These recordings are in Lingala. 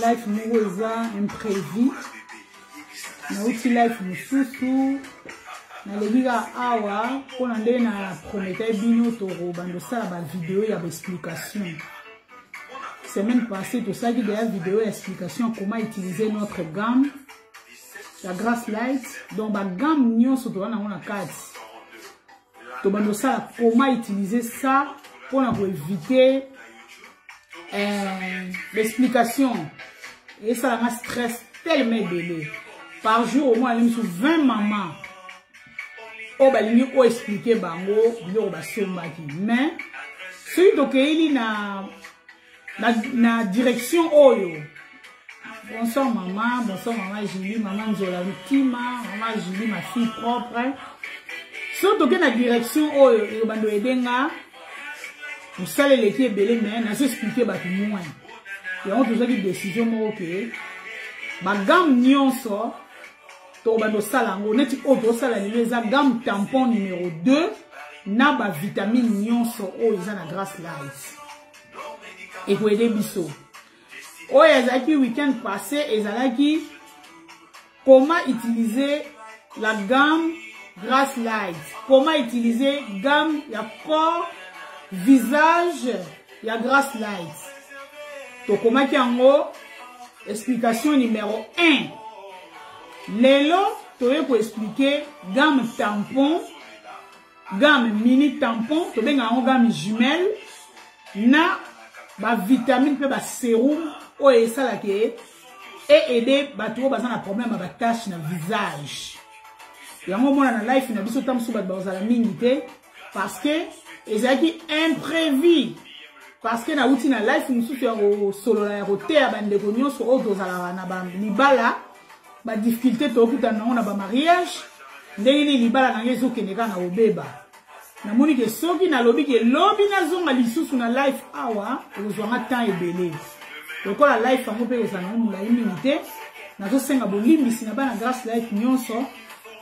life moko eza imprévu nauti life mosusu naleki kaka awa mpona nde na prometaki bino tokobanda osala bavideo ya baexplication semaine passée tosalaki deya video ya explication comment utiliser notre gamme ya grace light donc bagamme nyonso toza nango na kati tobanda osala comment utiliser ça mpo na koevite euh, l'explication esalanga stress tellement ebele par jour omona nde mosusu 20 mama oyo balingi oexplike bango biloko basombaki mais soki tokeyeli na na, na direction oyo bonsoir mama bonsoir mama julie mama nzola ntima mama julie ma fille propre so toke na direction oyo elobando ebenga mosala eleki ebele me nazo explike bato moins yango tozwaki décision moko ke bagamme nyonso tokobanda osala yango neti oyo tozosala lelo eza gamme tampon numero 2 na bavitamine nyonso oyo eza na grace light ekoede biso oyo ezalaki week-end passé ezalaki comment utiliser la gamme grace light comment utiliser gamme ya corps visage ya grace light tokomaki yango explication numéro 1 lelo toye koexplike gamme tampon game mini tampon tobenga yango game jumelle na bavitamine mpe baserum oyo esalaka ye eaide bato oyo baza na problème ya batache na visage yango omona na life na biso ta mosusu bato bakozala mingi te parce que ezalaki imprévu parce que nauti na life mosusu ya kosolola ya koteya bandeko nyonso oyo tozalaka na libala ba difficulté tokutana nango na ba mariage ndenge nini libala na ngai ezokende kaka na kobeba namoni ke soki nalobi ke lobi nazonga lisusu na life awa ekozwanga temps ebele lokola life yango mpe ekozala nango molai mingi te nazosenga bolimbisi na bana grace life nyonso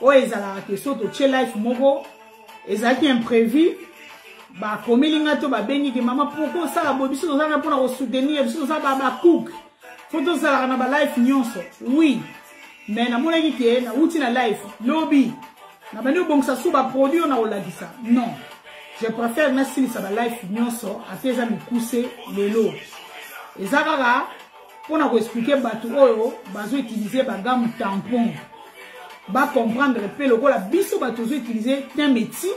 oyo ezalaka ke so totie life moko ezalaki imprévu bakomeli ngai to babengi ke mama pourkoi osala boye biso tozanga mpona kosoutenir biso toza babakuke po tozalaka na balife nyonso wi me namonaki ke nauti na life lobi nabandi kobongisa su baproduit oyo nakolakisa non je préfère nasilisa balife nyonso ata eza mikuse lelo eza kaka mpo na koexplike bato oyo bazoutilize bagamu tampon bacomprendre mpe lokola biso bato tozoutilize tin meti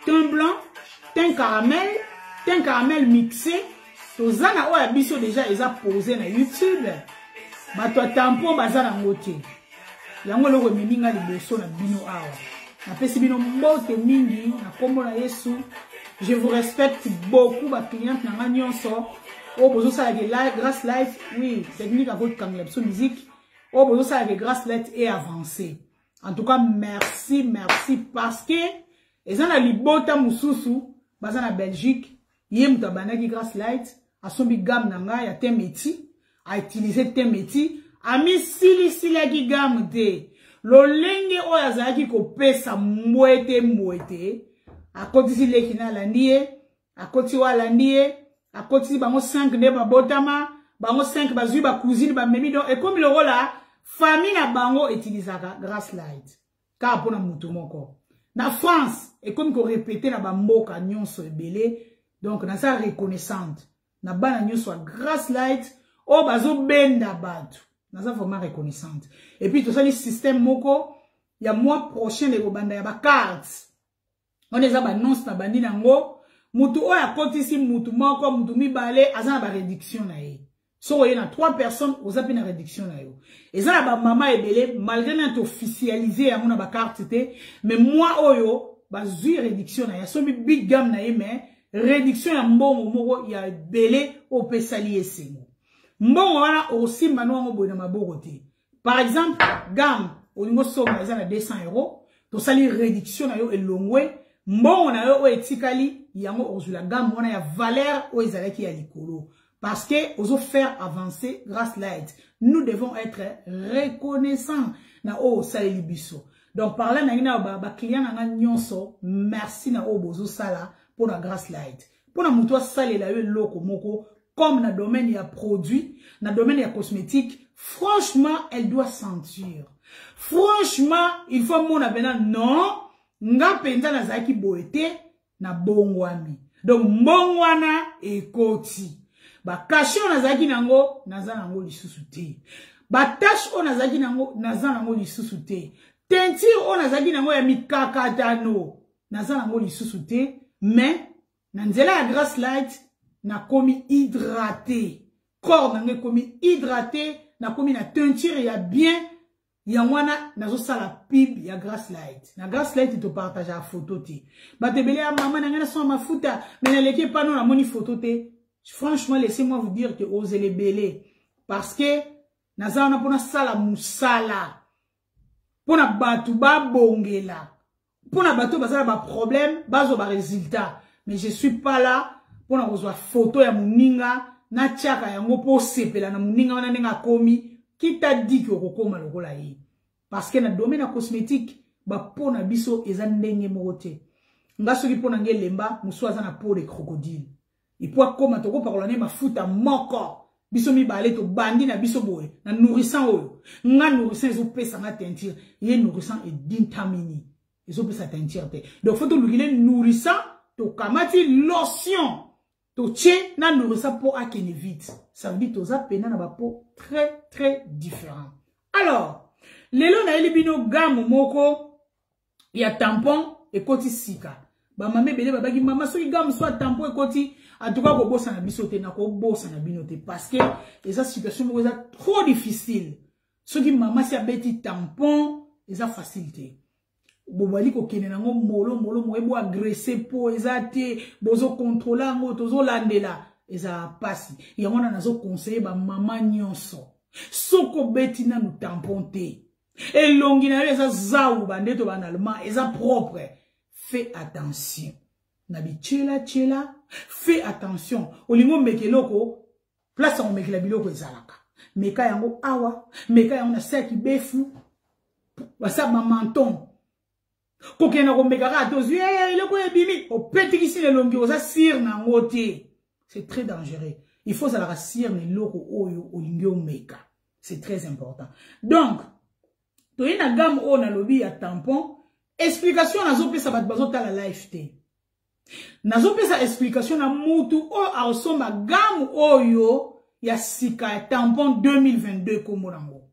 tin blanc tin caramel tin caramel mixe toza na oyo ya biso deja eza pose na youtube bato ya tampon baza nango te yango eloko ememi nga liboso na bino awa napesi bino mbote mingi na nkombo na yesu je vous respecte beaucoup bacliente na nga nyonso oyo bozosala ke grace life oui technique akokangela biso musique oyo bozosala ke grace life e avance en tout cas merci merci parce que eza na libota mosusu baza na belgique ye moto abandaki grace light asombi game na ngai ya temeti autilize temeti amisilisilaki game te lolenge oyo azalaki kopesa mbwete mbwete akotisi leki na alandi ye akotisi oyo alandi ye akotisi bango 5 nde babotama bango 5 bazwi bacousine bamemi don ekomi lokola famille na bango etilisaka grace light kaka mpo na moto moko na france ekomi korepete na bamboka nyonso ebele donc naza reconnaissante na bana nyonso ya grace light oyo bazobenda bato naza vraiment reconnaissante epuis tosali système moko ya mois prochain ekobanda ya bacarte wana eza banonse na bandi na yango mutu oyo akotisi mutu moko mutu mibale aza na baréduction na ye soki oye na trois personnes oza mpe na réduction na yo eza na bamama ebele malgré nani toofficialise yango na bakarte te mais mwa oyo bazwi réduction na ye asomi big game na ye mais réduction ya mbongo moko ya ebele opesali esengo mbongo wana okosimba no yango boye na maboko te par exemple gamme olingi osomba eza na 200 euro tosali réduction na yo elongwe mbongo na yo oyo etikali yango okozwila gamme wana ya valeur oyo ezalaki ya likolo parce que ozo faire avancer grâce light nous devons être reconnaissant na oyo osaleli biso donc parla nangi na baclient na nga nyonso merci na oyo bozosala mpo na grâce light mpo na moto asalela yo eloko moko comme na domaine ya produit na domaine ya cosmétique franchement elle doit sentir franchement il faut amona mpena non nga mpenza nazalaki boye te na bongwami donc mbongo wana ekoti bakashe oyo nazalaki na yango naza na yango lisusu te batashe oyo nazalaki na yango naza na yango lisusu te tentire oyo nazalaki na yango ya mikakatano naza nango lisusu te mais na nzela ya grace light nakomi hydrate corps nanga ekomi hydrate nakomi na teinture ya bien yango wana nazosala pib ya grace light na grace light topartageaka foto te bato ebele ya mama na ngai nasoma mafuta me naleki epano namoni foto te franchement laissez moi vous dire que ozela ebele parce que naza wana mpo nasala mosala mpo na bato babongela Pour na bateau, baza ba problème, bazo ba résultat. Mais je suis pas là pour na kozwa photo ya muninga na tiaka yango po sepela na muninga wana nenga komi qui t'a dit que okokoma lokola ye. Parce que na domaine cosmétique, ba po na biso eza ndenge moko te. Nga soki po na nge lemba, musu aza na po de crocodile. epuis akoma tokopakola ne mafuta moko biso mibale tobandi na biso boye na nourrissant oyo nga nourrissant ezopesa nga teinture ye nourrissant edintamini ezopesa teinture te donc fo tolukile nourrissant tokamati lotion totie na nourrissant mpo akende vite ça veut dire toza mpena na bapo très très différent alors lelo nayeli bino gamme moko ya tampon ekoti sika bamama ebele babaki mama soki gamme soit tampon ekoti atuka kobosana biso te nakobosana bino te parce que eza situation moko eza trop difficile soki mama si abeti tampon eza facile te bobali kokende nango molo molo moye boagrese mpo eza te bozokontrole yango tozolandela ezala mpasi yango wana nazoconseille bamama nyonso soki obeti nanu tampon te elongi na yo eza zau bandeto ba na allemand eza propre fais attention na bityela tyela fais attention olingi omeka eloko place ya komekela biloko ezalaka meka yango awa meka yango na saki befu basa bamanton kokenda komeka kaka tozwi eh, eloko oyo ebimi opetikisi na elongi oza sire na yango te c'est très dangereux il faut ozalaka sire na eloko oyo olingi omeka c'est très important donc toye na game oyo nalobi ya tampon explication nazopesa bato bazotala life te nazopesa explication na mutu oyo akosomba game oyo ya sika ya tampon 2022 kombo nango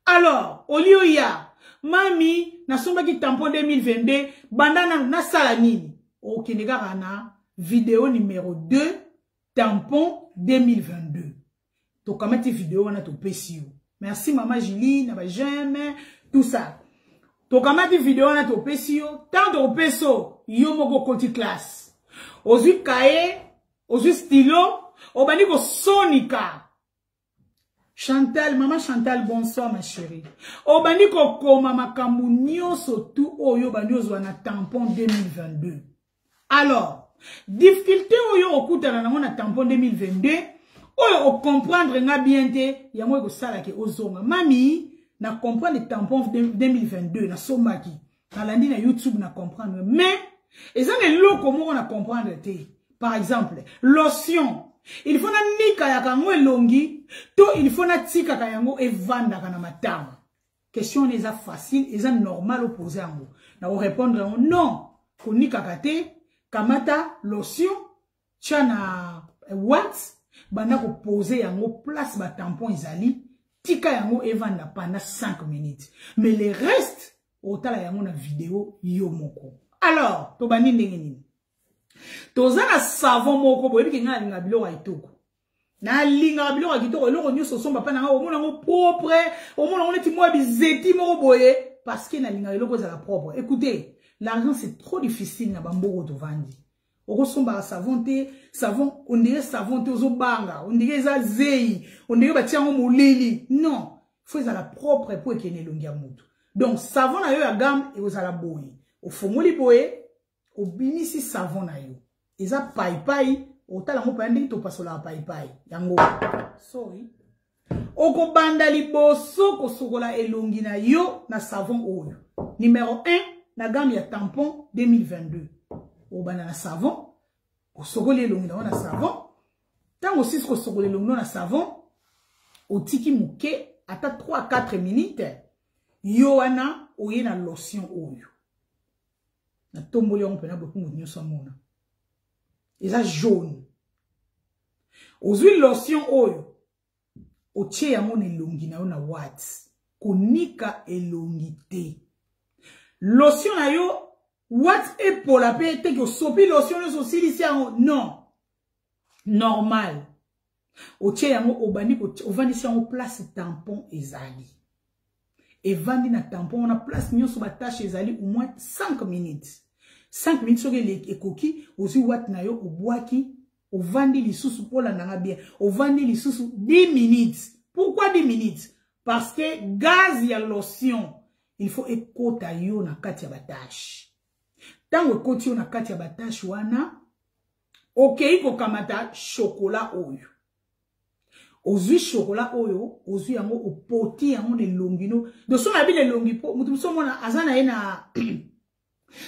alors olie oya mami nasombaki tampon 2022 banda na nasala nini okende kaka na video numero 2 tampon 2022 tokamati video wana topesi yo merci mama julie na bajeme tout ça tokamati video wana topesi yo ntango tokopesi yo yo moko okoti classe ozwi kaye ozwi stylo obandi kosonika Chantal, maman Chantal, bonsoir ma chérie. Obandi kokoma makambo nyoso tout oyo obandi ozwa na tampon 2022. Alors, difficulté oyo okutana nango na tampon 2022, oyo o comprendre nga bien te, yango ekosala ke ozonga. Mami, na comprendre tampon 2022 na sombaki. nalandi na youtube na comprendre mais eza na eloko moko na comprendre te par exemple lotion il faut nanikayaka yango elongi to il faut natikaka yango evandaka na matama question wana eza facile eza normal opose yango nakorépondre yango non konikaka te kamata lotion tya na eh, wat banda kopose yango place batampon ezali tika yango evanda panda 5 minutes mais le reste otala yango na video yo moko alors tobandi ndenge nini toza na savon moko boyebi ke ngai nalinga biloko ya etoko nalingaka biloko ya kitoko eloko nyonso osomba mpa na ngai omona yango propre omona yango neti mwa bizeti moko boye parce que nalingaka eloko ezala propre écoutez l'argent c'est trop difficile na bamboko tovandi okosombaka savon te savon ondire savon te ozobanga ondire eza zeyi ondire batia yango molili non fo ezala propre mpo ekende elongi ya motu donc savon na yo ya game ekozala boye ofongoli boye obimisi savon na yo eza paipai otala yango mpaya ndenge topasolaka paipai yango sorry okobanda liboso kosokola elongi na yo na savon oyo numero 1 na game ya tampon 2022 obanda na savon osokoli elongi na yo na savon ntango osisi kosokola elongi na savon otiki moke ata 3-4 minute yo wana oye na lotion oyo na tomboli yango mpena bokungu nyonso amona eza jaune ozwi lotion oyo otie yango na elongi na yo na wat konika elongi te lotion na yo wat epola mpe eteki osopi lotion nyonso osilisi yango non normal otie yango obandi ovandisi yango place tampon ezali evandi na tampon wana place nyonso batashe ezali au moins 5 minutes 5 minutes soki ekoki ozwi wate na yo obwaki ovandi lisusu olandanga bien ovandi lisusu 10 minutes pourquoi 10 minutes parce que gaz ya lotion il faut ekota yo na kati ya batashe ntango ekoti yo na kati ya batashe wana okei kokamata shokola oyo ozwi shokola oyo ozwi yango opoti yango na elongi no doso na bino elongi mpo moto mosusu omona aza na ye na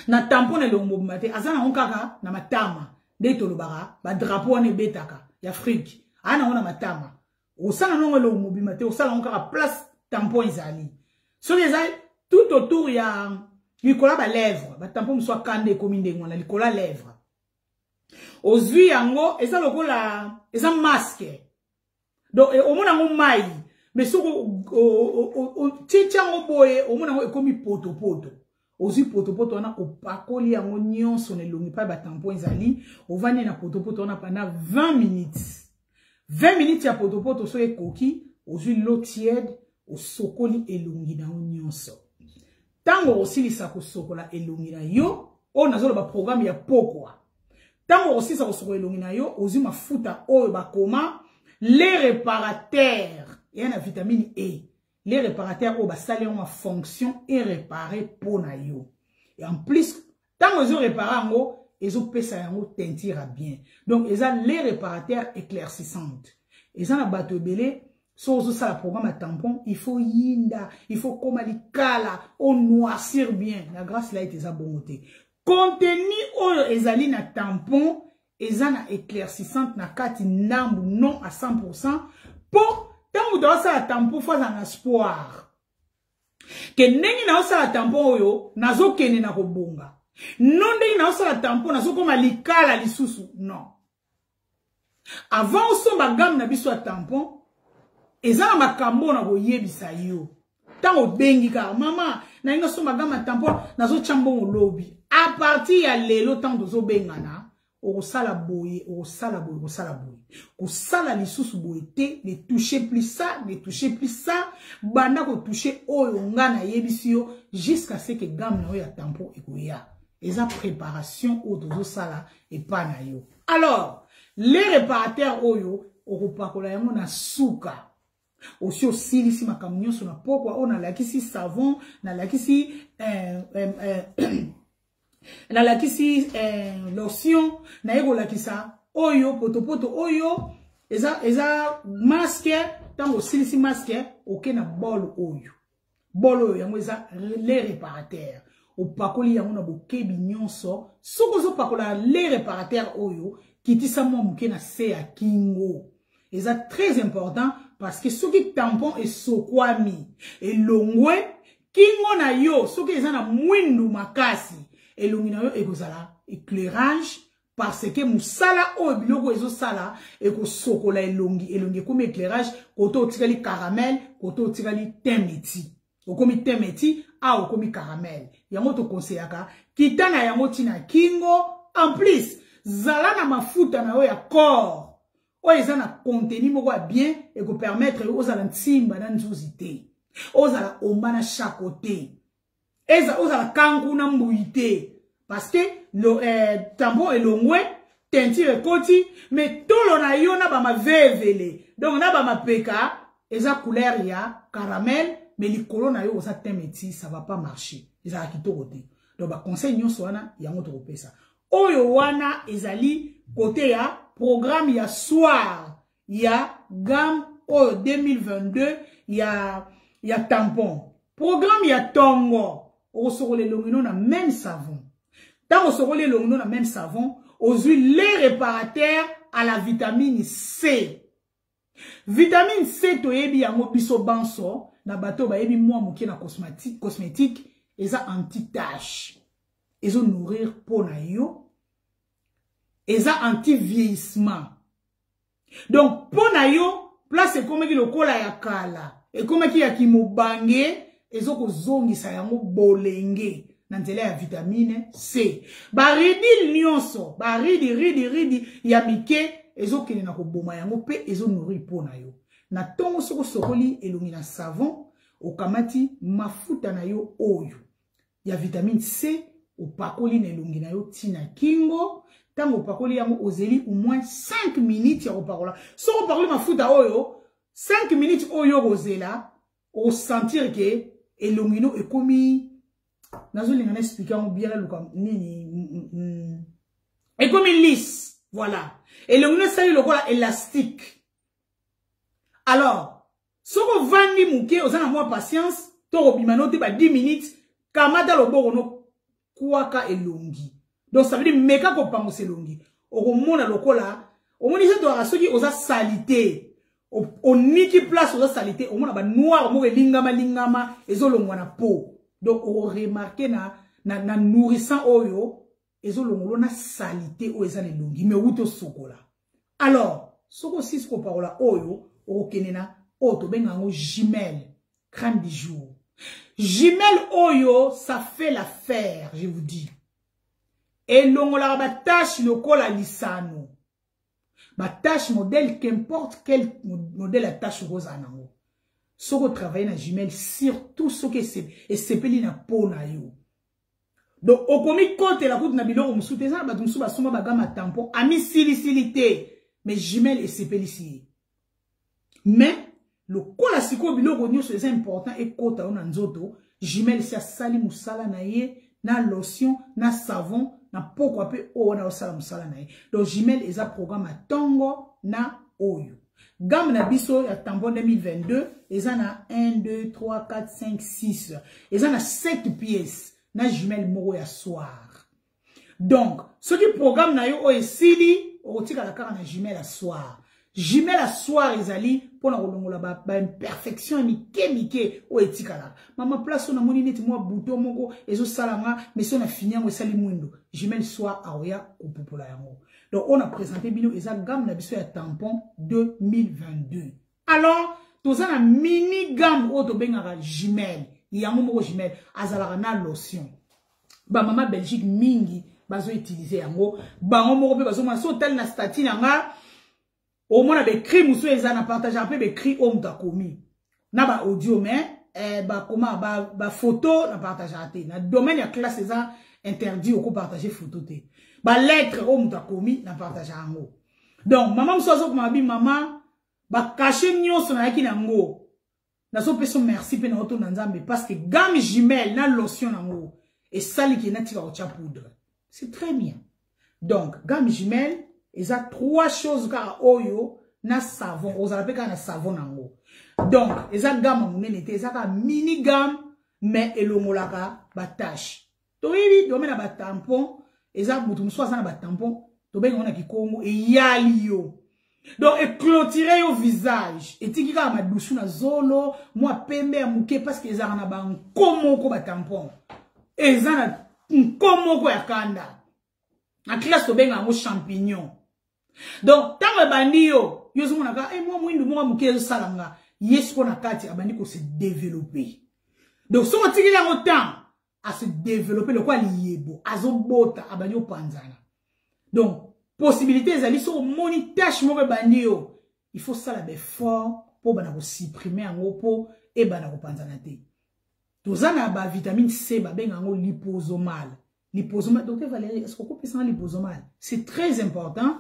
na tampo na elongi mobimba te aza nango kaka na matama nde tolobaka badrapo wana ebetaka ya afrike aa nango na matama osala nango elongi mobimba te osala yango kaka place tampo ezali soki eza tout autour ya likolo ya balèvre batampo mosusu akanda ekomi ndenge wana likolo ya lèvre ozui yango eza lokola eza masque donc omona yango mai mais soki otiti yango boye omona yango ekomi potopoto ozwi potopoto wana opakoli yango nyonso na elongi mpai batampon ezali ovandi na potopoto wana panda 20 minutes 20 minutes ya potopoto so ekoki ozwi lo tiede osokoli elongi na yo nyonso ntango okosilisa kosokola elongi na yo oyo nazoloba programe ya pokwa ntango okosilisa kosokola elongi na yo ozwi mafuta oyo bakoma le reparateur eya na vitamine e le reparateur oyo basali yango mafonction erepare mpo na yo en plus Tango ezo repara yango, ezo pesa yango tentira bien. Donc eza les réparateurs éclaircissantes. Eza na bato ebele so ozo sala programme ya tampon, il faut yinda, il faut koma likala, o noircir bien. La grâce light eza bongo te. Contenu oyo ezali na tampon eza na éclaircissante na kati nambu non à 100% po tango moto asala tampon fo azala na espoir ke ndenge naosala tampon oyo nazokende na kobonga no ndenge naosala tampon nazokoma likala lisusu non avant osomba game na biso ya tampon eza na makambo oyo na koyebisa yo ntango obengi kaka mama nalingi nasomba game ya tampon nazotya mbongo lobi a partir ya lelo ntango tozobengana okosala boye okosala boye okosala boye kosala lisusu boye te ne touche plus ça ne touche plus ça banda kotouche oyo nga nayebisi yo jusqu'à ce que game na yo ya tampo ekoya eza préparation oyo tozosala epai na yo alors le réparateur oyo okopakola yango na suka osi osilisi makambo nyonso na pokwa oyo nalakisi savon nalakisi eh, eh, eh, nalakisi eh, lotion naye kolakisa oyo potopoto oyo eza, eza maske ntango osilisi maske oke na bol oyo bolo oyo yango eza le reparateur opakoli yango na bokebi nyonso soki ozopakola le reparateur oyo kitisa mwa moke na se ya kingo eza très important parce que soki tampon esokwami elongwe kingo na yo soki eza na mwindu makasi elongi na yo ekozala éclairage parce que musala oyo biloko ezosala ekosokola elongi elongi ekomi éclairage koto otikali caramel koto otikali temeti okomi temeti a okomi caramel yango tokonseyaka kita na yango ntina kingo en plus zala na mafuta na yo ya corps oyo eza na contenu moko ya bien ekopermettre yo ozala nsimba na nzuzi te ozala omba na shako te eza ozala kangu na mbuyi te parce que lo, eh, tambo elongwe teinture ekoti mais tolo na yo na bamavevele donc na bamapeka eza couleur ya caramel mais likolo na yo oza te meti ça va pas marcher ezala kitoko te donc baconseil nyonso wana yango tokopesa oyo wana ezali kote ya programme ya soir ya gamme oyo 2022 ya ya tampon programme ya tongo okosokola elongi no na même savon ntango osokoli elongi no na même savon ozwi le réparateur à la vitamine c vitamine c toyebi yango biso banso na bato oyo bayebi mwa moke na cosmétique, cosmétique eza anti-tache ezo nourrir mpo na yo eza anti-vieillissement donc mpo na yo place ekomaki lokola ya kala ekomaki ya kimobange ezokozongisa yango bolenge na nzela ya vitamine c baridile nyonso baridi ridi ridi ya mike ezokende na koboma yango mpe ezonori mpo na yo na ntongo soki osokoli elongi na savon okamati mafuta na yo oyo ya vitamine c opakoli na elongi na yo ntina kingo ntango opakoli yango ozeli au moins 5 minutes ya kopakola soki opakoli mafuta oyo 5 minutes oyo okozela osentir ke elongi no ekomi nazolinga na explike yango bien naluka nini mm, mm, mm. ekomi lise voilà elongi no esali lokola elastique alors soki ovandi moke oza na mwa patience to kobima no te ba 10 minutes kamata loboko no kwaka elongi donc ça veut dire meka kopangusa elongi okomona lokola omoni eza toyaka soki oza salite oniki place oza salite omona ba noir moko elingama lingama ezolongwa na peau donc okoremarke na, na, na nourrissant oyo ezolongolo na salite oyo eza na elongi me wuti osokola alors soki osisi kopakola oyo okokende na oyo tobenga yango jimele crème du jour jimele oyo ça fait la faire je vous dis elongolaka batache lokola lisano batache modèle qu'importe quel modèle ya tache okozala nango soki otravaille na jimele surtout soki esepeli na po na yo donc okomi kotela kutu na biloko mosusu te eza na bato mosusu basomba bagama tampon amisilisili te mais jumele esepelisi ye mais lokola sikoyo biloko nyonso eza important ekota yo na nzoto jumele si asali mosala na ye na lotion na savon na pokwa mpe oyo wana osala mosala na ye donc jumele eza programme ya ntongo na oyo Gamme na biso ya tampon 2022 eza na 1 2 3 4 5 6 eza na 7 pièces na jumelle moko ya soir. Donc soki programme na yo oyo esili okotikala kaka na jumelle ya soir. Jumelle ya soir ezali mpo na kolongola baimperfection ba ya mike mike oyo etikalaka mama place oyo namoni neti mwa buto moko ezosala nga mesi oyo na fini yango esali mwindo jumelle soir aoya kopupola yango Donc, on a présenté bino, ils ont gamme la biso ya tampon 2022. Alors, tous la mini gamme auto bengara jumelle. Yango moko jumelle. Azalaka na lotion. Ba mama Belgique mingi, bazo utiliser yango. Bango moko pe bazo ma so tel na statine nga. omona becri mosusu eza na partageaka mpe becri oyo moto akomi na baaudio mais eh, bakoma bafoto ba na partageaka te na domaine ya classe eza interdit okopartage foto te balettre oyo moto akomi na partage yango donc mama mosusu azokoma babi mama bakashe nyonso nayaki na yango nazo pesa merci pe na otonda nzambe parce que gamme jumelle na lotion nango esali ke na tika kotia poudre c'est très bien donc gamme jumelle eza trois choses kaka oyo na savon ozala pe kaka na savon nango donc eza gamme monene te eza kaka mini gamme mais elongolaka ba tâche toyebi dome na batampon eza moto mosusu aza na batampon tobengi yango na kikongo eyali yo donc eclotire yo visage etiki kaka madusu na zolo mwa pembe ya moke parceke ezalaka na banko moko batampon eza na nko moko ya kanda na classe tobenga yango champignon donc ntango ebandi yo yo ozomonaka e eh, mwa mwindu moko moke ezosala nga ye siko na kati abandi kose developpe donc soki otikeli yango temps à se développer lokola liyebo azobota abandi opanzana donc possibilité ezali soki omoni tâche moko ebandi yo il faut sala baeffort mpo bana kosupprime yango mpo ebanda kopanzana te toza na bavitamine c babenga yango liposomale liposomale docteur valérie est-ce kokopesanga liposomale c'est très important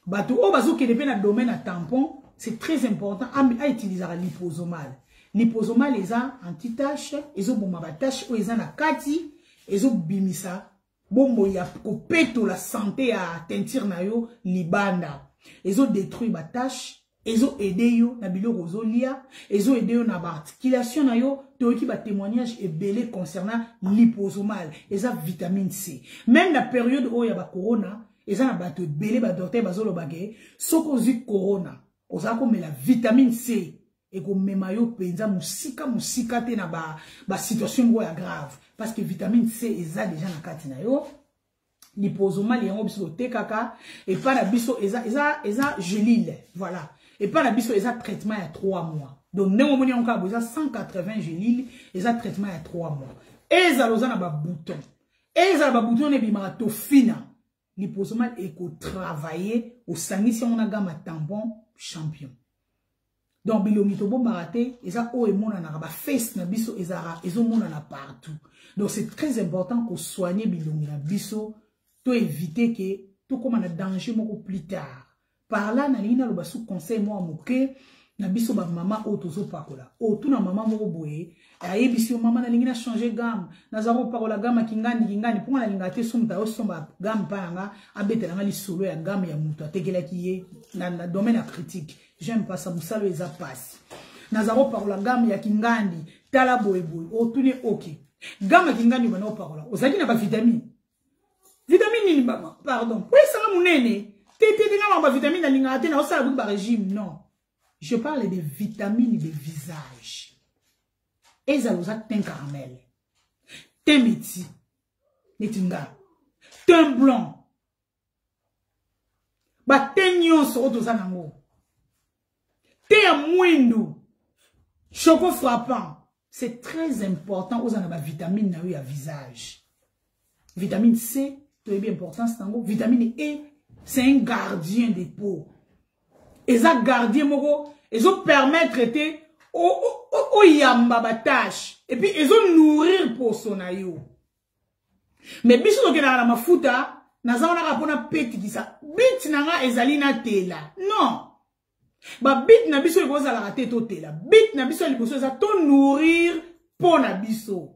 bato oyo bazokende mpe na domaine ya tampon c'est très important autilisaka liposomale Lipozomal eza anti-tache, ezoboma ba tache oyo eza na kati, ezobimisa bombo ya kopetola sante ya teinture na yo libanda. Ezodetruire ba tache, ezo aide yo na biloko ozolia ezo aide yo na baarticulation na yo toyoki batémoignage ebele concernant liposomal eza vitamine c même na periode oyo ya bacorona eza na bato ebele badoktere bazolobake soki ozwi corona oza komela vitamine c ekomema yo mpenza mosika mosika te na basituation ba moko ya grave parce que vitamine c eza deja na kati na yo lipozomali yango biso totekaka epai na biso eza, eza, eza gelile voilà epai na biso eza traitement ya 3 mois donc ndenge omoni yango kaka boza 180 gelile eza traitement ya 3 mois ezala oza na babouton ezala babouton wana ebimaka tofina liposoma ekotravaille osangisi yango na gama tampon champion donc bilongi tobombaka te eza oyo emonanaka baface na biso ezalaka ezomonana partout donc c'est très important kosoigne bilongi na biso toevite ke tokóma na danger moko plus tard Par là, nalingi naloba sous conseil mwa moke na biso bamama oyo tozopakola otuna oh, mama moko boye ayebisi yo mama nalingi na change game naza kopakola game ya kingani kingani mpo nga nalinga te so moto ayosomba game mpa na nga abetela nga lisolo ya game ya moto atekelaki ye na, na domaine ya critique j'aime pas ça mosala oyo eza mpasi naza kopakola game ya kingandi tala boyeboye otuni oh, oke okay. game ya kingandi obanda kopakola ozalaki na bavitamine vitamine nini bama pardon po esanga monene te te te nga bamba vitamine nalingaka te naosala kutu barégime non je parle de vitamine de visage ezala oza tin caramel tin meti neti nga tin blanc batin nyonso oyo toza nango te ya mwindu choco frappant c'est très important ozala na bavitamine na yo ya visage vitamine c toyebi importance na yango vitamine e c'est un gardien de peau eza gardien moko ezopermettre te oyamba batâche epuis ezonourrir poso na yo mais biso tokendaka na mafuta naza wana kaka mpo napetikisa bit na nga ezali natela non babit na biso ekozalaka te totela bit na biso ya liboso eza to nourrir mpo na biso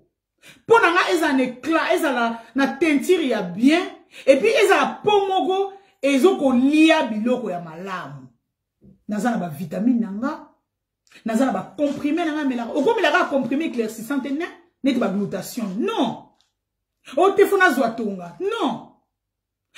mpo na nga ezala na eclat ezala na teinture ya bien epuis ezala mpo moko ezokolia biloko ya malamu naza na bavitamine na nga naza na bacomprime na ngai melaka okomelaka acomprime éclaircissant te ne neti baglutation non oyo te fo nazwa tonga non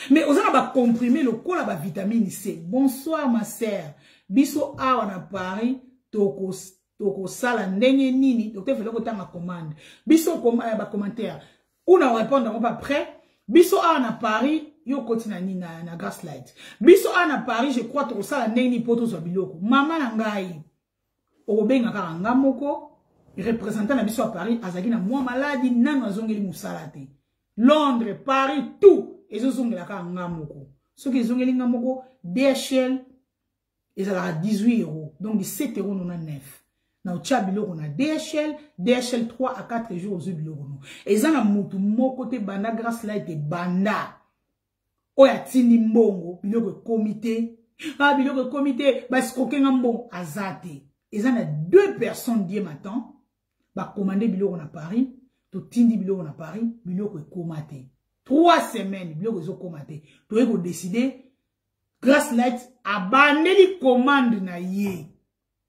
mais oza na bacomprime lokola bavitamine c bonsoir ma sœur biso awa na paris tokosala ndenge nini docteur fele kotanga commande biso eh, bacommentaire ou na répondre ngo ba près biso awa na Paris yo koti na nini na, na gaslight biso awa na Paris je crois tokosala ndenge nini mpo tozwa biloko mama na ngai okobenga kaka nga moko représentant na biso ya Paris azalaki na mwa maladi nano azongeli mosala te Londres Paris tout ezozongela kaka nga moko soki ezongeli nga moko DHL ezalaka 18 euros donc 17 euros 99 na otya biloko na dhl dhl 3 à 4 jours ozwi biloko no eza na motu moko te banda grace light ebanda oyo atindi mbongo biloko ekomi te ah biloko ekomi te basikoke nga mbongo aza te eza na deux personnes die matan bakomande biloko na paris totindi biloko na paris biloko ekoma te trois semaines biloko ezokoma te toyei kodeside Grace Light abandeli commande na ye.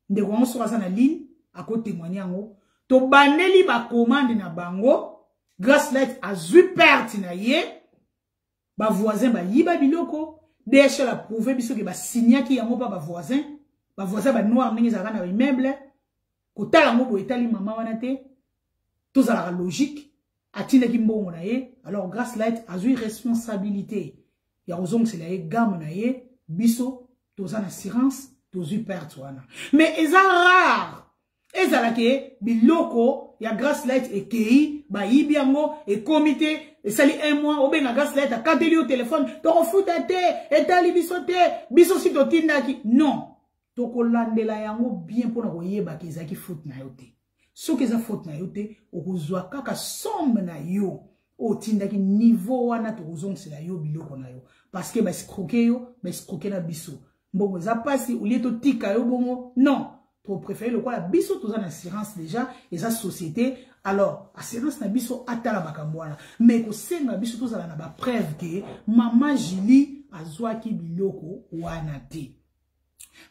Ndeko yango soki aza na ligne ako témoigner yango. Tobandeli ba commande na bango. Grace Light azwi perte na ye. Ba voisins bayiba biloko. DHL a prouvé biso ke ba signaki yango pa ba voisins. Ba voisins ba noir ndenge ezalaka na ba immeuble. Kotala yango boye etali mama wana te. Tozalaka logique. atindaki mbongo na ye alors grace light azwi responsabilité ya kozongisela ye game na ye biso toza na assurance tozwi perte wana mais eza rare ezala ke biloko ya grace light ekei bayibi yango ekomi te esali un mois obenga grace light akateli yo telefone tokofuta te etali biso te biso si totindaki non tokolandela yango bien mpo na koyebaka ezalaki foute na yo te soki eza faute na yo te okozwa kaka somme na yo otindaki niveau wana tokozongisela yo biloko na yo parce que baescroke yo baescroke na biso mbongo eza mpasi olie totika yo bongo non topréféré lokola biso toza na assurance déjà eza société alors assurance na biso atala makambo wana mais kosenga biso tozala na bapreuve ke mama julie azwaki biloko wana te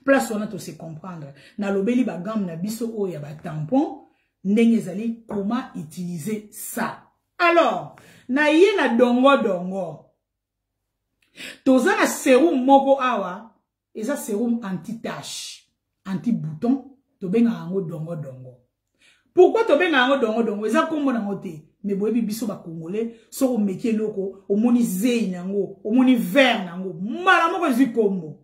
place wana tose comprendre nalobeli bagamme na biso oyo ya batampon ndenge ezali comment utiliser ça alors na ye na dongo dongo toza na serum moko awa eza serum anti tache anti bouton tobengaka yango dongo dongo pourkoi tobenga yango dongodongo eza nkombo nango te me boyebi biso bacongolais soki omeki eloko omoni zei na yango omoni vere na yango mbala moko ezwi nkombo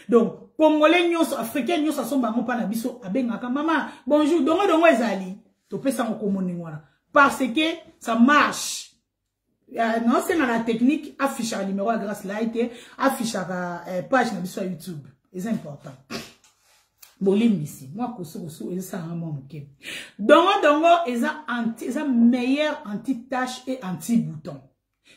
donc congolais nyonso africain nyonso asomba yango mpa na biso abengaka mama bonjour dongodongo ezali topesa yango nkombo ndenge wana parce que ça marche Euh, naosenga na technique affichaka numéro ya grace lai te affichaka euh, page na biso ya youtube eza important bolimbisi mwa kosukosu ezosalanga mwa moke dongo dongo eza anti, eza meilleur anti tache et anti bouton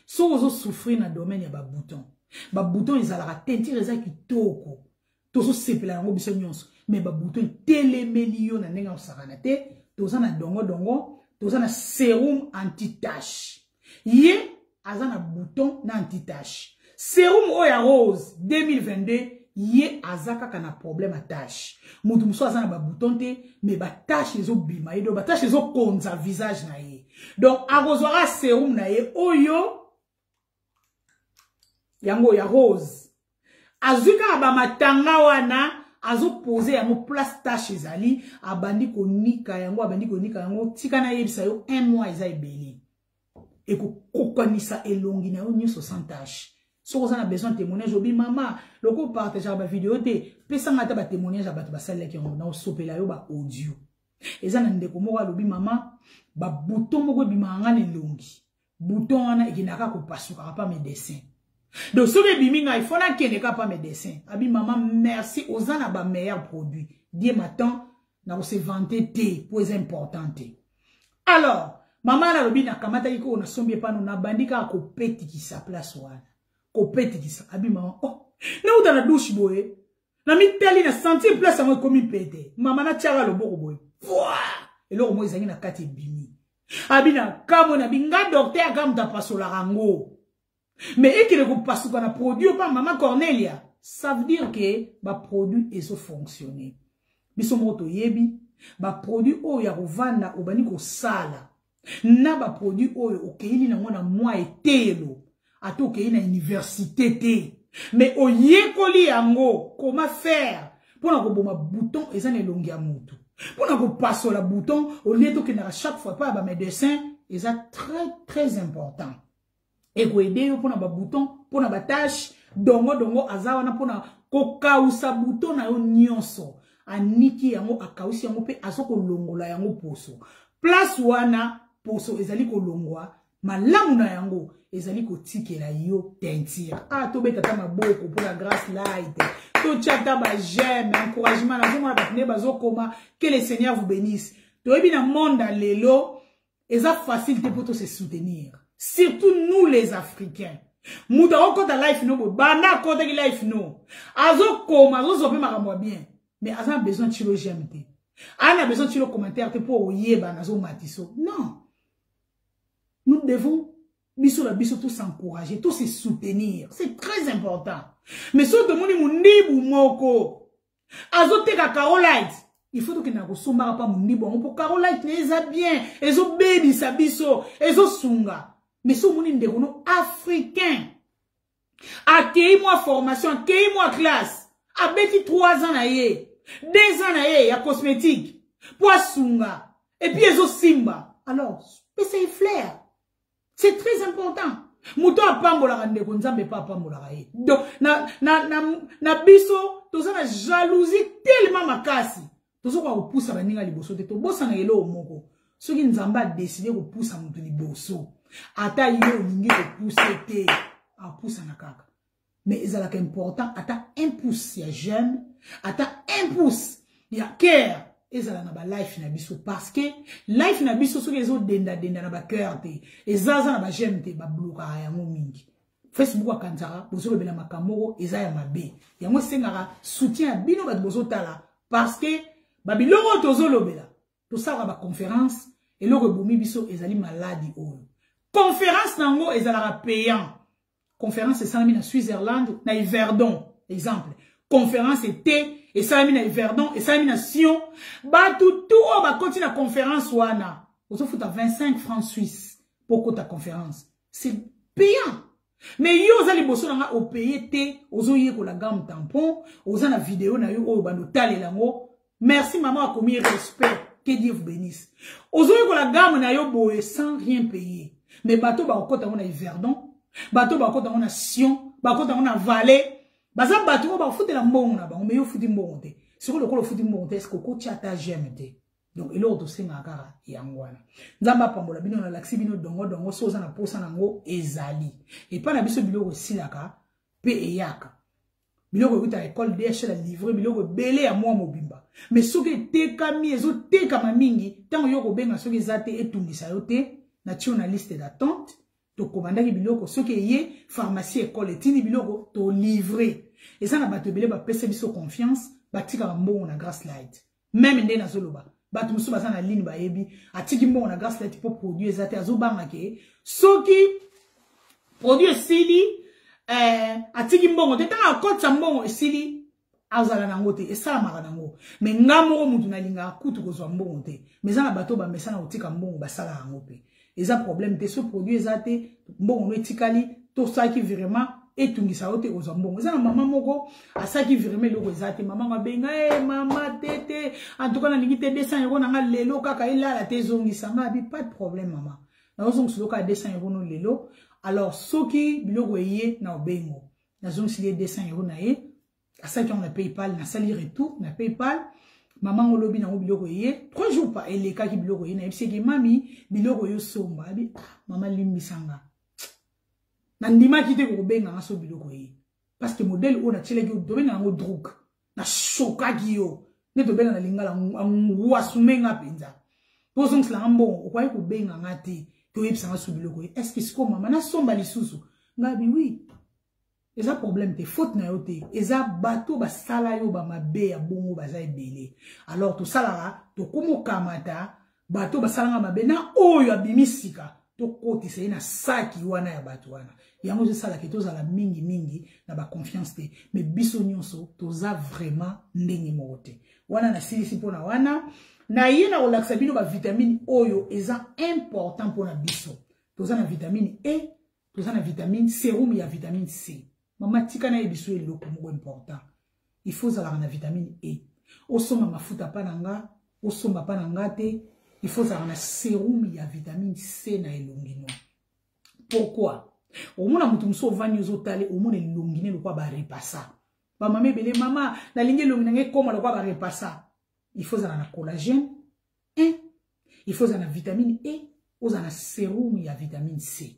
soki ozosouffrir na domaine ya babouton babouton ezalaka tentire eza kitoko tozosepela yango biso nyonso me babuto etelemeli yo na ndenge ya kosakana te toza na dongodongo toza na serum antitache ye aza na bouton na antitache serum oyo ya rose 2022 ye aza kaka na problème ya tache moto mosusu aza na babouton te mais batache ezobima ye donc batache ezokonza visage na ye donc akozwaka serum na ye oyo yango ya rose azwi kaka bamatanga wana azopose yango place tache ezali abandi konika yango abandi konika yango tika nayebisa yo un mois eza ebele ekokokanisa elongi na yo nyonso sans tache soki oza na besoin témoignage obi mama loko opartageaka bavideo te pesanga ata batémoignage ya bato basalelaki yango na osopela yo baaudio eza na ndeko moko alobi mama babuto moko ebimaka ngai na elongi bouton wana ekenda kaka kopasuka kapa medecin donc soki ebimi ngai fo nakende kaka pa medecin abi mama merci oza na ba meilleur produit die matan nakose vante te mpo eza important te alors mama wana alobi nakamataki koo nasombi epano nabandi kaka kopetikisa place wana kopetikisa abi mama oh nauta na douche boye na mitali na sentir place yango ekomi mpe te mama natyaka loboko boye pwa eloko moko ezangi na kati ebimi abi na kamwe na binga dokter aka moto apasolaka yango me ekele kopasuka na produit opa mama cornelia ça veut dire ke baproduit ezofonctionne biso moko toyebi baproduit oyo ya kovanda obandi kosala na baproduit oyo okeili nango na mwa eteyelo ata okei na université te mais oyekoli yango koma faire mpo na koboma bouton eza na elongi ya motu mpo na kopasola bouton olie tokendaka chaque fois epai ya bamedecin eza très très important ekoede yo mpona babouton mpona batache dongo dongo aza wana mpona kokausa buto na yo nyonso aniki yango akausi yango mpe azokolongola yango poso place wana poso ezali kolongwa malamu na yango ezali kotikela yo teinture ah tobeta ata maboko mpo na grace light totya ata bageme encouragement nazomona bato nde bazokoma que le seigneur vous benisse toyebi na monde ya lelo eza facile te mpo to se soutenir surtout nous les africains moto akokɔta life no boye banda akɔtaki life no azokoma azozwa mpe makambo ya bien mais aza na besoin tilo j'aime te aa na besoin tilo commentaire te mpo oyeba nazomatiso non nous devons biso na biso tous encourager tous se soutenir c'est très important mais soki tomoni mondibu moko azoteka carolite il faut tokendaka kosombaka mpa mondibu yango mpo carolite na eza bien ezobebisa biso ezosunga mais so omoni ndeko no africain akei mwa formation akei mwa classe abeti 3 ans na ye 2 ans na ye ya cosmétique mpo asunga epuis ezosimba alors pesa ye flaire c'est très important moto apambolaka ndeko nzambe mpe apambolaka ye donc na, na, na, na biso toza na jalousie tellement makasi tozokoka kopusa baninga liboso te tobosana eloo moko soki nzambe adeside kopusa moto liboso ata ye olingi kopuse te apusana kaka mais ezalaka important ata un pouce ya j'aime ata un pouce ya care ezala na balife na biso parce que life na biso soki ezodendadenda na bacoeur te ezaza na bageme te bablokaka yango mingi facebook akanisaka bozolobela makambo moko eza ya mabe yango esengaka soutien ya bino bato bozotala parce que babiloko oyo tozolobela tosalaka baconférence eloko ebomi biso ezali maladi oyo conference na yango ezalaka payant Conférence esalami na Switzerland, na Yverdon, exemple. Conférence était esalami na Yverdon, esalami na Sion. Batu tout oyo bakoti na conférence wana. Ozofuta 25 francs suisse pour kota conférence. C'est payant. Mais yo oza liboso na nga opaye te, ozoyekola gamme tampon, oza na video na yo oyo bando talela ngo, merci maman akomi respect que dieu vous bénisse ozoyekola game na yo boye sans rien payer mais bato bakokota yango na iverdon bato bakokota yango na sion bakokota yango na vallée baza bato oyo bakofutela mbongo na bango mais yo ofuti mbongo te sikoyo lokola ofuti mbongo te eske okotya ata geme te donc eloko tosengaka kaka yango wana nzambe apambola bino nalakisi bino dongodongo so oza na mposa na yango ezali epai na biso biloko esilaka mpe eyaka biloko ekutaka ekole dhl alivre biloko ebele ya mwa mobimba me soki etekami ezotekama mingi ntango yo kobenga soki eza te etungisa yo te na tio na liste d'attente tokomandaki biloko soki eye pharmacie ekole etindi biloko tolivre eza na bato ebele bapesa biso confiance batikaka mbongo na grace light meme nde nazoloba bato mosusu baza na ligne bayebi atiki mbongo na gaslet mpo produit eza te azobanga ke soki produit esili eh, atiki mbongo te ntango akotisa mbongo esili azala nango te esalamaka nango me nga moko motu nalingaka kutu kozwa mbongo te me eza na bato bamesana kotika mbongo basala yango mpe eza problème te so produit eza te mbongo no etikali tosalaki virement etungisa yo te kozwa mbongo eza na mama moko asalaki virement eloko eza te mama yango abenga e eh, mama te te antuka nalingi te 200 euro na nga lelo kaka elala te ezongisa nga abi pas de problème mama nazozongisa eloko ya 200 euro no lelo alors soki biloko eye na obengo nazongisili ye 200 euro na ye asalaki yango na paypal nasali retour na paypal mama ngo lobi nango biloko eye trois jours pa elekaki biloko eye nayebisaki mami biloko yo somba abi ah, mama limbisa nga nandimaki te kokobenga nga so biloko eye parce que modèle oyo natyelaki yo dobenga yango droug nashokaki yo nde tobenga na lingala anguasume nga mpenza mpo ozongisela nga mbongo okwaki kobenga nga te toyebisa nga so biloko eye est ce que sikoyo mama nasomba lisusu ngabi wi eza problème te faute na yo te eza bato basala yo bamabe ya bongo baza ebele alors tosalaka tokomokamata bato basalanga mabe na oyo abimi sika tokotisa ye na saki wana ya bato wana yango ezosalaka tozala mingimingi na baconfiance te me biso nyonso toza vraiment ndenge moko te wana nasilisi mpo na wana na ye na kolakisa bino bavitamine oyo eza important mpo na biso toza na vitamine e toza na vitamine serum ya vitamine c mama tika na ye biso eloko moko important il faut ozalaka na vitamine e osomba mafuta mpa na nga osomba mpa na nga te il faut ozalaka na serum ya vitamine c na elongi no pourquoi omona moto mosusu ovandi ozotale omona elongi ne lokwa barepasa bamama ebele mama nalingi elongi na ngai ekoma lokwa barepasa il faut ozala na collagène e il faut ozala na vitamine e ozala na serum ya vitamine c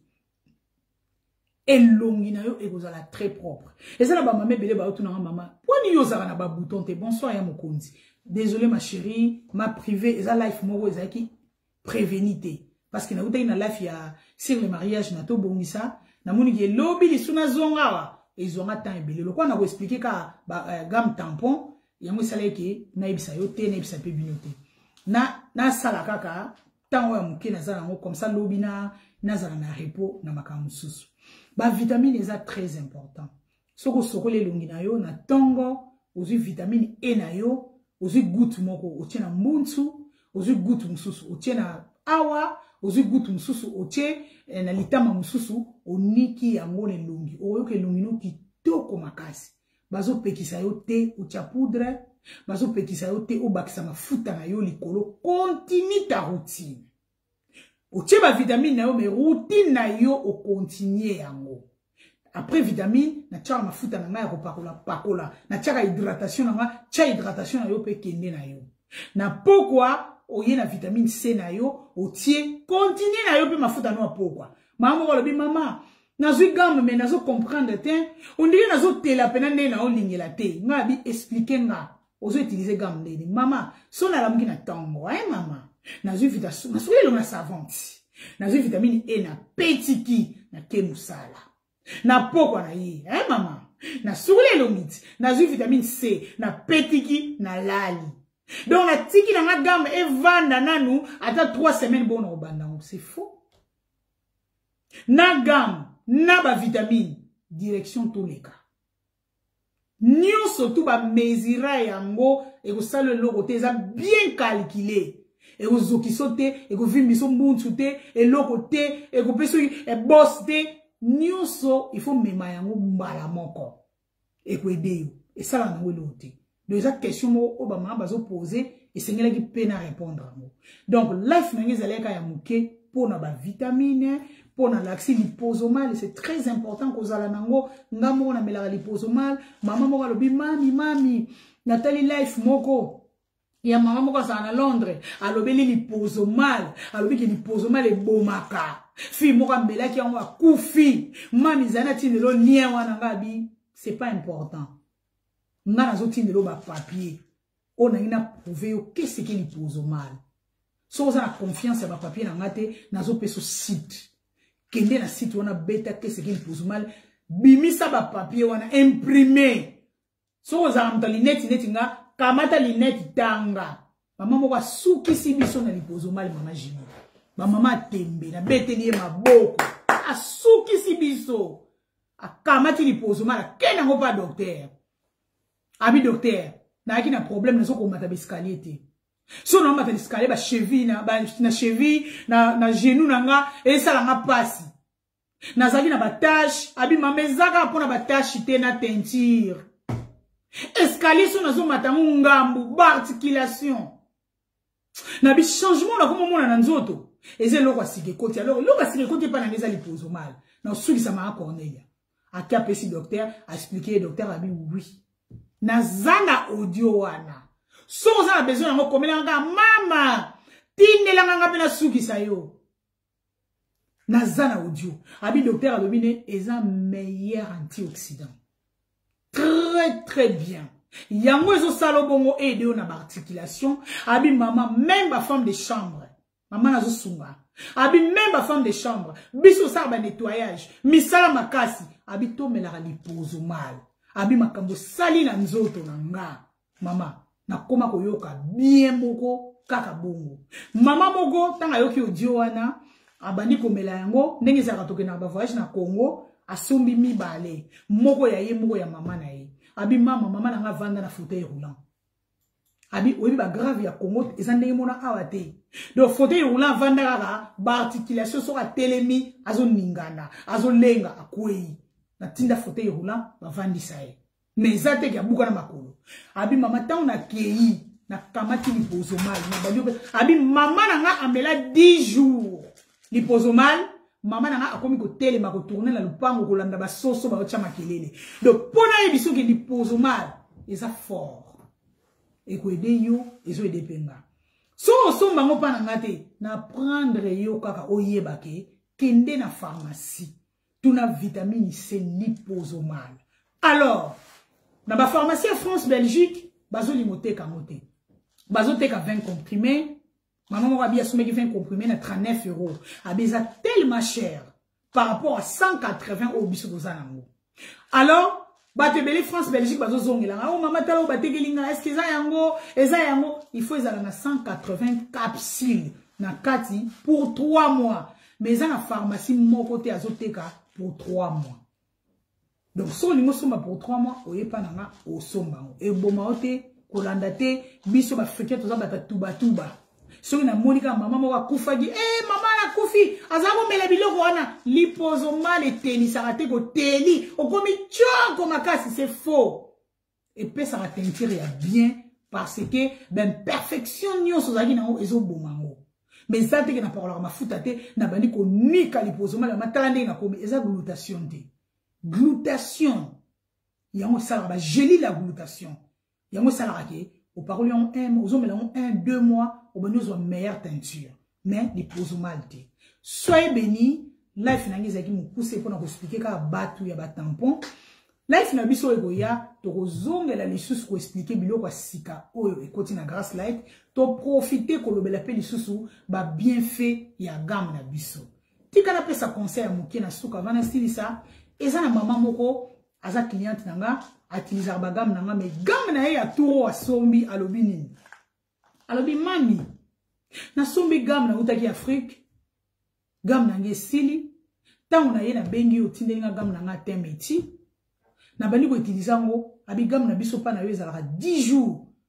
elongi na yo ekozala très propre eza na bamama ebele bayotunanga mama mpo nini yo ozalaka na babouton te bonsoir ya mokonzi désolé ma chérie ma privée eza life moko ezalaki préveni te parce que nautaki na life ya sur le mariage na tobongisa namoni ke lobi lisu nazonga awa ezwanga temps ebele lokola na koexplike kaka euh, game tampon yango esala ete nayebisa yo te nayebisa mpe bino te nasala na kaka ntango ya moke naza nango comme ça lobi na nazala na repos na makambo mosusu bavitamine eza très important soki osokoli elongi na yo na ntongo ozwi vitamine e na yo ozwi gute moko otie na mbunsu ozwi gute mosusu otie na awa ozwi gute mosusu otie eh, na litama mosusu oniki yango na elongi okoyoka elongi no kitoko makasi bazo pekisa yo te otia poudre bazo pekisa yo te obakisa mafuta na yo likolo continue ta routine otie ba vitamine na yo mais routine na yo okontinue yango après vitamine natiaka mafuta na ngai ya kopakola pakola natiaka hydratation na ngai tia hydratation na yo mpe kende na yo na pokwa oye na vitamine c na yo otie continue na yo mpe mafuta no ya pokwa mama moko alobi mama nazwi game me nazo comprendre te ondenge nazotela mpena ndenge naolingela te nga abi explike nga ozo utilize game ndeni mama so nalamuki na ntongo e mama nazwi vitamasuki elongo na savante nazwi vitamine e na petiki nake mosala na pokwa na ye e mama nasukuli elongi ti nazwi vitamine c na petiki na lali donc natiki na nga game evanda nanu ata 3 semaine bongo na kobanda yango c'est faux na gamme na bavitamine direction toleka nyonso tu bamesira yango ekosala eloko te eza bien calcule ekozokiso te ekovimbiso mbunsu te eloko te ekopesa ebos te nyonso ifo mema yango mbala moko ekoedeyo esala nango eloko te donc eza question moko oyo bamama bazopose esengelaki mpe na répondre yango donc life na ngai ezalaki kaka ya moke mpo na bavitamine mpo na laxi liposomale c'est très important kozala nango nga moko namelaka liposomale mama moko alobi mami mami natali life moko ya mama moko azala na londres alobeli lipozo mal alobi ke lipozo mal ebomaka fille moko amelaki yango akufi mami ezali na ntina elo lien wana nga abi c'est pas important nga nazotinda elo bapapier oyo nangi na prouve yo keseke lipozo mal soki oza na confiance ya bapapier na nga te nazopesa site kende na site wana beta keseke lipozo mal bimisa bapapier wana imprime soki ozalaka moto ya lineti neti nga kamata lineti tanga mama moko asukisi biso na lipozomali mama jimi bamama tembe nabeteli ye maboko asukisi biso akamati lipozomali akei nango mpa doktere abi doktere nayaki na problème nazokomata baescalier te so na mata escalier ba cheville na ba na cheville na na genou na nga esala nga pasi nazalaki na batache abima ma ezaka mpo na batache te na teinture escalier so nazomata yango ngambu baarticulation na bichangement nakoma omona na nzoto eza eloko ya sika ekoti alors eloko ya sika ekoti epai nanga eza lipozo mala na osukisama ya cornelia ake apesi docteur aexplike ye docteur abi oui naza na audio wana soki oza na besoin yango komelanga kaka mama tindelanga nga mpe nasukisa yo naza na audio abi docteur alobi ne eza meilleur antioxydant très très bien yango ezosala bongo ede yo na baarticulation abi mama meme bafemme de chambre mama nazosunga abi meme bafemme de chambre biso osala banettoyage misala makasi abi tomelaka lipozo male abi makambo osali na nzoto na nga mama nakoma koyoka bien moko kaka bongo mama moko ntango ayoki odio wana abandi komela yango ndenge ezalaka tokendaka bavoyage na congo asombi mibale moko ya ye moko ya mama na ye abi mama mama na nga avanda na fauteuil roulant abi oyebi bagrave ya congo eza ndenge mona awa te donc fauteuil roulant avanda kaka baarticulation soki atelemi azoningana azolenga akwei natinda fauteuil roulant bavandisa ye mais eza te ke abuka na makolo abi mama ntango nakei nakamati lipozo mal nabandi abi mama na nga amela 10 jours lipozo mal mama na nga akomi kotelema kotourne na lopango kolanda basoso baotya makelele donc mpo nayebi soki lipozo mal eza fort ekoede yo ezoede mpe nga so osomba yango mpa na nga te na prendre yo kaka oyeba ke kende na pharmacie tuna vitamini c lipozomal alors na bapharmacie ya france belgique bazolinga oteka yango te bazoteka 20 comprime mama moko abi asomeki 20 comprime na 39 euro abi eza tellement cher par rapport à 180 oyo biso toza nango alors bato ebele france belgique bazozongela ngai o oh, mama tala oyo batekeli ngai estce eza yango eza yango il faut ezala na 180 capsule na kati pour 3 mois mais eza na pharmacie moko te azoteka pour 3 mois donc so olingi osomba pour 3 mois oyepa na nga osomba yango eboma yo te kolanda te biso baafricain toza bata tubatuba soki namoni kaka mama moko akufaki e eh, mama akufi aza komela biloko wana lipozo mal etelisaka te koteli okomi tioko makasi se faux epesaka teinture ya bien parce que baimperfection nyonso ozalaki nango ezoboma yango ma eza teke napakolaka mafuta te nabandi konika lipozo mal yama tala ndenge nakomi eza glutation te glutation yango esalaka bagelile ya glutation yango esalaka ke opakoli yango un ozomela yango un deux mois obandi ozwa meilleure teinture mais lipozo mal te soye beni life na ngai ezalaki mokuse mpo na koexplike kaka bato ya batampon life na biso ekoya tokozongela lisusu koexplike biloko ya sika oyo ekoti na grace light toprofite kolobela mpe lisusu babienfait ya game na biso tika napesa conseil ya moke na suka vana esilisa eza na mama moko aza cliente na nga atilisaka bagame na nga me game na ye ya turo asombi alobi nini alobi mami nasombi game nautaki afrike game na nga esili ntango na ye nabengi yo otindeli nga game na nga teme eti nabandi koutilize yango abi game na biso mpa na yo ezalaka 10 jours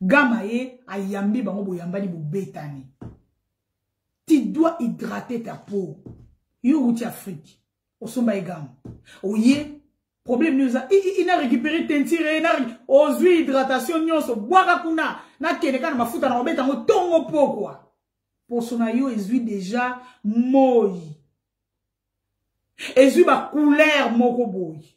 gama ye ayambi bango boyambani bobetani tu dois hydrater ta peau yo outi afrique osomba ye gama oye problème nini oza ina récupéré tentire na ozwi hydratation nyonso bwaka kuna nakende kaka na mafuta na kobeta yango ntongo pokwa poso na yo ezwi deja moi ezwi bacouleur moko boye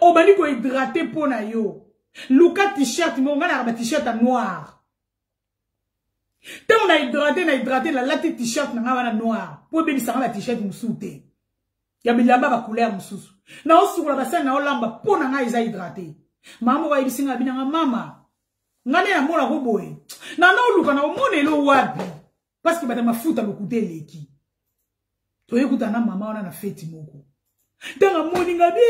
obandi ko hydrate mpo na yo luka t-shirt moko ngai nayaka ba t-shirt ya noir ntango na hydrate na hydrate nalati t-shirt na ngai wana noir mpo ebebisa ngai ba t-shirt mosusu te ya bilamba bacouleur mosusu naosukola basani naolamba mpo na ngai eza hydrate mama moko ayebisi ngai abinanga mama ngai nde namona ko boye nanaoluka na omona elo wapi parce que bata mafuta lokuta eleki toye kuta na mama wana na feti moko ntango amoni nga bi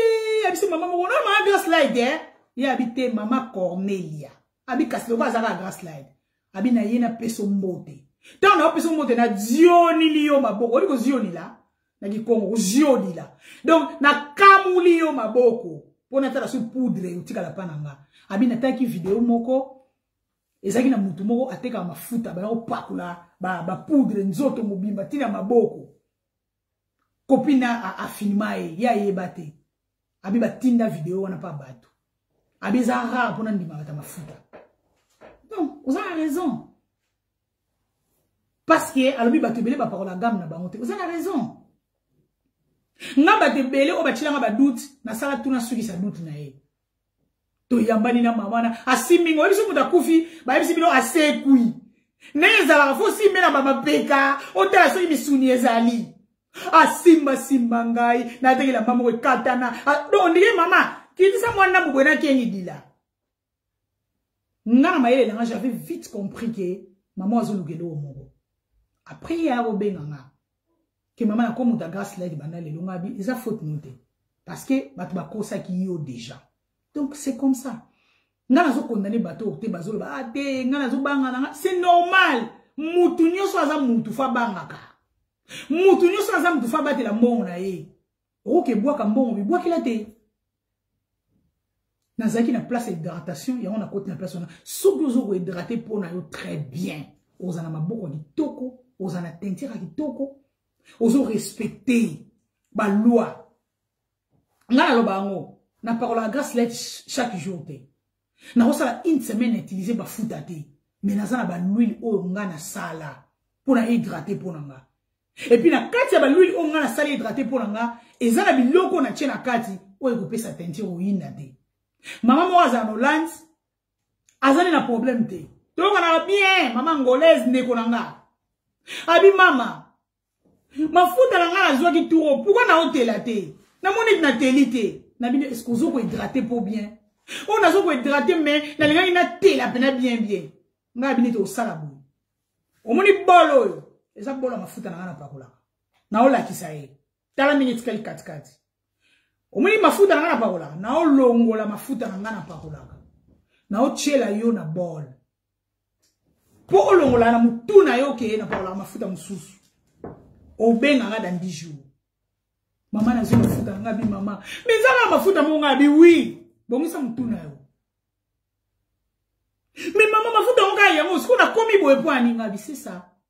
abisi mama moko na mama graslide eh? ye abi te mama cornelia abi kasi lokola azalaka graslide abi na ye napeso mbote ntango naopesa mbote na zionili yo maboko oyebi kozionila na kikongo kozionila donc nakamuli yo maboko mpo natala so poudre otikala mpa na nga abi natalaki video moko ezalaki na motu moko atekaka mafuta baya kopakola bapoudre nzoto mobimba ntina maboko kopina afilma ye ye ayeba te abi batinda video wana mpa bato abi eza rare mpona ndimaka ta mafuta donc oza na raison parce que alobi bato ebele bapakola game na bango te oza na raison nga bato ebele oyo batyelanga badoute nasala tuna sukisa doute na ye toyambani na mama wana asimbi ngo oyebisi moto akufi bayebisi bino asekwi ndenge ezalaka fo osimbe na bamapeka otala soki misuni ezali asimbasimba ngai natekela mama moko ekatana do ndenge mama kitisa mwana mobwe nakengi dila nga na mayele elanga j'avais vite compris ke mama azoluka eloko moko après ye akobenga nga ke mama na komo da gaslight banda lelo nga bi eza faute no te parce que bato bakosaki yo déjà donc c'est comme ça nga nazo condamner bato oyo te bazoloba ah te nga nazo banga na nga c'est normal mutu nyonso aza mutu fa bangaka mutu nyonso aza mutu fa batela mbongo na ye okoki ebwaka mbongo bibwakela te nazalaki na place ya hydratation yango nakoti na place wana soki ozo kohydrate mpo na yo très bien oza na maboko ya kitoko oza na tentire ya kitoko ozo respecte baloi ngai naloba yango napakolaka grace light chaque jour te nakosala une semaine na utiliser bafuta te mais naza na baluile oyo nga nasala mpo na hydrate mpo na nga epuis na kati ya baluile oyo nga nasali hydrate mpo na nga eza na biloko na tie na kati oyo ekopesa teinture oyinda te mama moko azala na hollande azali na problème te toyokanaka bien mama angolaise ndeko na nga abi mama mafuta na ngai nazwaki turo pourkui naotela te namoni ete nateli te na bino eske ozo kohydrate mpo bien oyo nazo kohydrate mai nalingaki natela mpena bien bien ngai ya bino ete osala boye omoni bolo oyo eza bolo ya mafuta na ngai napakolaka naolakisa ye tala ndenge etikali katikati omoni mafuta na ngai napakolaka naolongola mafuta na ngai napakolaka naotyela yo na bole mpo olongola na motu na yo okeye na pakolaka mafuta mosusu obenga nga dans 10 jours mama nazwi mafuta nga bi mama mezanga mafuta mo nga bi wi bongisa motu na yo me mama mafuta yango kaka yango sikoyo nakomi boye mpo aninga bi sesa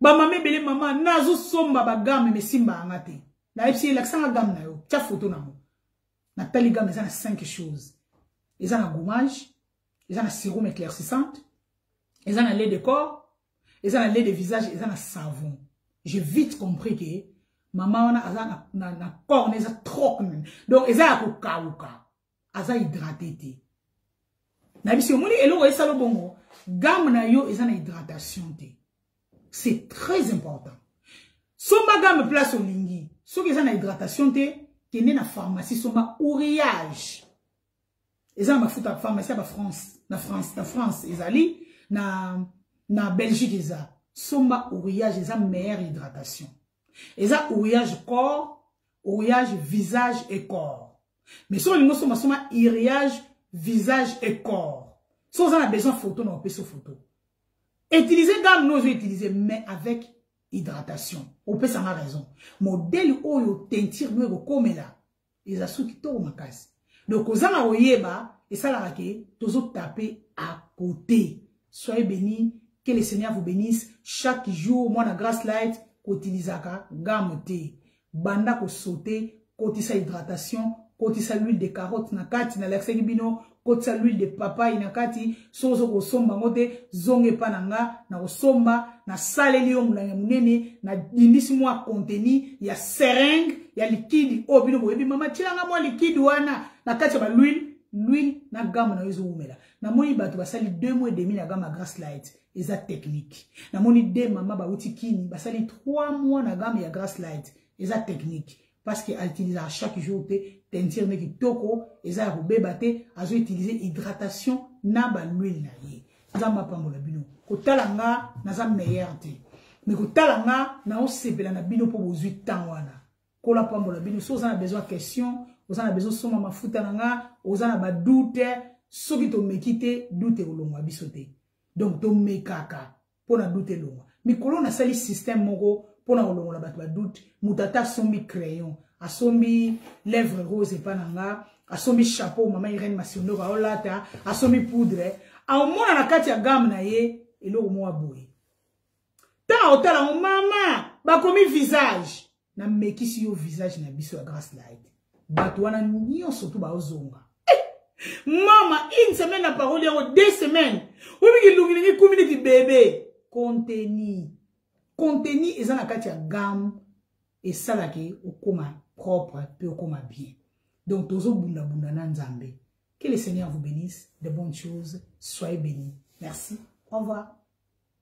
Ba mama ebele mama nazo somba ba gamme mais simba anga te. Na epsi la sanga gamme na yo. Tia photo na mo. Na tali gamme ça na 5 choses. Eza na gommage, eza na sérum éclaircissante, eza na lait de corps, eza na lait de visage, eza na savon. J'ai vite compris que maman wana aza na na, na corps eza trop. Donc eza ya ko kauka. aza hydrate te na biso omoni eloko esala bongo game na yo eza na hydratation te c'est très important somba game place olingi soki eza na hydratation te kende na pharmacie somba ourillage eza na mafuta pharmacie ya bafrance na france na france ezali na na belgique eza somba ourillage eza meilleure hydratation eza ouriage corps ouriage visage et corps mais soki olingi osomba soma iriage visage et corps so oza na besoin photo na opesi photo utiliser gamme no ozo utiliser mais avec hydratation opesanga raison modèle oyo teinture no ekokomela eza su kitoko makasi donc kozanga koyeba esalaka ke tozotape à côté soyez béni que le seigneur vous bénisse chaque jour mwana grace light kotilisaka gamme te banda kosote kotisa hydratation kotisa l'huile de carotte na kati nalakisaki bino kotisa l'huile de papaye na kati soki ozo kosomba yango te zonga epa na nga na kosomba nasaleli yo molangi ya monene nadindisi mwa konteni ya seringue ya likidi oyo bino boyebi mama tyelanga mwa likidi wana na kati ya balwile lwile na gamme na yo ezowumela namoni bato basali deux mois demi na gamme ya grace light eza technique namoni de mama bauti kini basali trois mois na gamme ya grace light eza technique parce que utilisaka chaque jour te teinture nde kitoko eza ya kobeba te azo utiliser hydratation na baluile na ye nzambe apambola bino kotala nga naza meilleur te me kotala nga naosepela na bino mpo bozwi ntango wana kola pambola bino soki oza na besoin ya question oza na besoin osomba mafuta na nga oza na badoute soki tomeki te doute ekolongwa biso te donc tomekaka mpo na doute elongwa mikolo nasali système moko mpo na kolongola bato ba doute moto ata asombi crayon asombi lèvre rose epa na nga asombi chapeau mama irene masiondoko aolata asombi poudre aomona na kati ya game na ye eloko moko aboye ntango aotala yango mama bakomi visage Na mekisi yo visage na biso ya Grace Light. Bato wana nyonso tu baozonga. Mama, une semaine na parole yao, deux semaines. Obi ki lungi ngi kumi neti bebe. Contenu. Contenu eza na kati ya gamme esala ke okoma propre pe okoma bien. Donc tozo bunda bunda na Nzambe. Que le Seigneur vous bénisse, de bonnes choses, soyez bénis. Merci. Au revoir.